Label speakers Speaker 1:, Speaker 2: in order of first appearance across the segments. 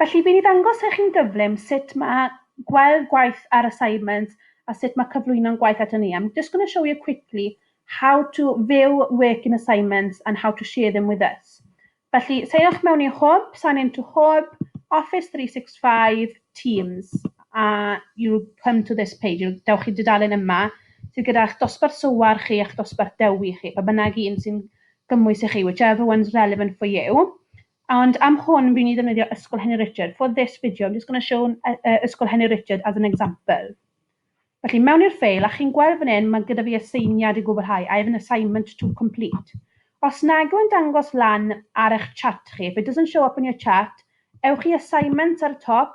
Speaker 1: Felly, fi 'di ddangos i chi'n gyflym sut ma' gweld gwaith ar assignment a sut ma' cyflwyno'n gwaith ato ni. I'm just going to show you quickly how to view work in assignments and how to share them with us. Felly, seiwch mewn i Hwb, sign into Hwb, Office 365, Teams, a you'll come to this page, you'll, dewch chi dudalen yma, sydd gyda'ch dosbarth sywar chi a'ch dosbarth dewi chi, pa bynnag un sy'n gymwys i chi, whichever one's relevant for you. Ond am hwn fi'n i ddefnyddio Ysgol Henry Richard. For this video I'm just going to show Ysgol Henry Richard as an example. Felly mewn i'r ffeil a chi'n gweld fan hyn mae gyda fi aseiniad i gwblhau, I have an assignment to complete. Os nag yw'n dangos lan ar eich chat chi, if it doesn't show up on your chat, ewch i assignments ar y top,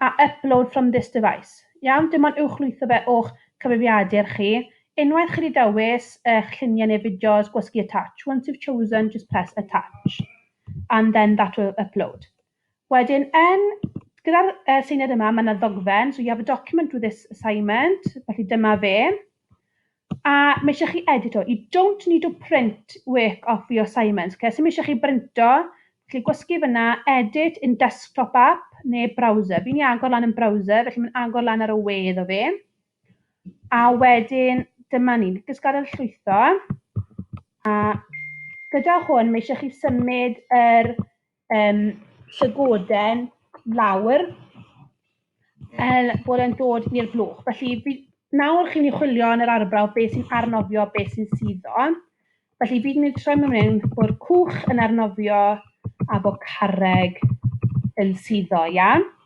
Speaker 1: a upload from this device. Iawn, dim ond uwchlwytho fe o'ch cyfrifiadur chi. Unwaith chi 'di dewis eich lluniau neu fideos, gwasgu attach. Once you've chosen, just press attach and then that will upload. Wedyn yn, gyda'r uh, seiniad yma, mae yna ddogfen, so you have a document with this assignment, felly dyma fe. A mae eisiau chi edito. You don't need to print work off for your assignments. Okay? So mae eisiau chi brinto, chi gwasgu fyna, edit in desktop app neu browser. Fi'n i agor lan yn browser, felly mae'n agor lan ar y we iddo fi. A wedyn, dyma ni, just gadael llwytho. A gyda hwn, mae eisiau chi symud yr er um, llygoden lawr er bod e'n dod i'r blwch. Felly, fi, nawr chi'n mynd i chwilio yn yr arbrawf beth sy'n arnofio, beth sy'n suddo. Felly, fi'n mynd i troi mewn hyn bod cwch yn arnofio a bod carreg yn suddo, iawn?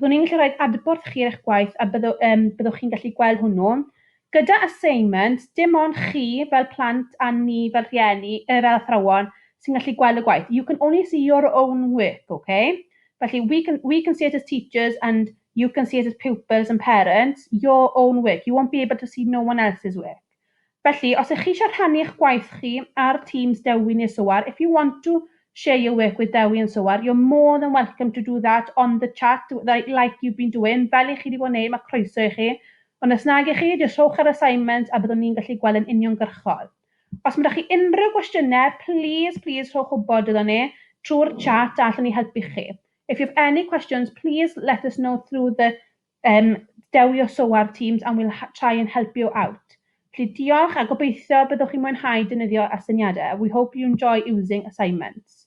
Speaker 1: Byddwn ni'n gallu rhoi'r adborth chi ar eich gwaith a byddo, um, byddwch chi'n gallu gweld hwnnw. Gyda assignment, dim ond chi fel plant a ni fel rhieni, uh, fel athrawon, sy'n gallu gweld y gwaith. You can only see your own work, okay? Felly, we can, we can see it as teachers and you can see it as pupils and parents, your own work. You won't be able to see no one else's work. Felly, os ych chi eisiau rhannu eich gwaith chi ar Teams Dewi neu Soar, if you want to share your work with Dewi and Soar, you're more than welcome to do that on the chat, like you've been doing, fel i chi wedi bod yn neud, mae croeso i chi. Ond os nag i chi, jyst rhowch yr assignment a byddwn ni'n gallu gweld yn uniongyrchol. Os mae 'da chi unrhyw gwestiynau, plîs, plîs rhowch wybod iddo ni trwy'r chat a allwn ni helpu chi. If you have any questions, please let us know through the Yym dewio so ar Teams and we'll try and help you out. Felly diolch a gobeithio byddwch chi'n mwynhau defnyddio astyniadau. We hope you enjoy using assignments.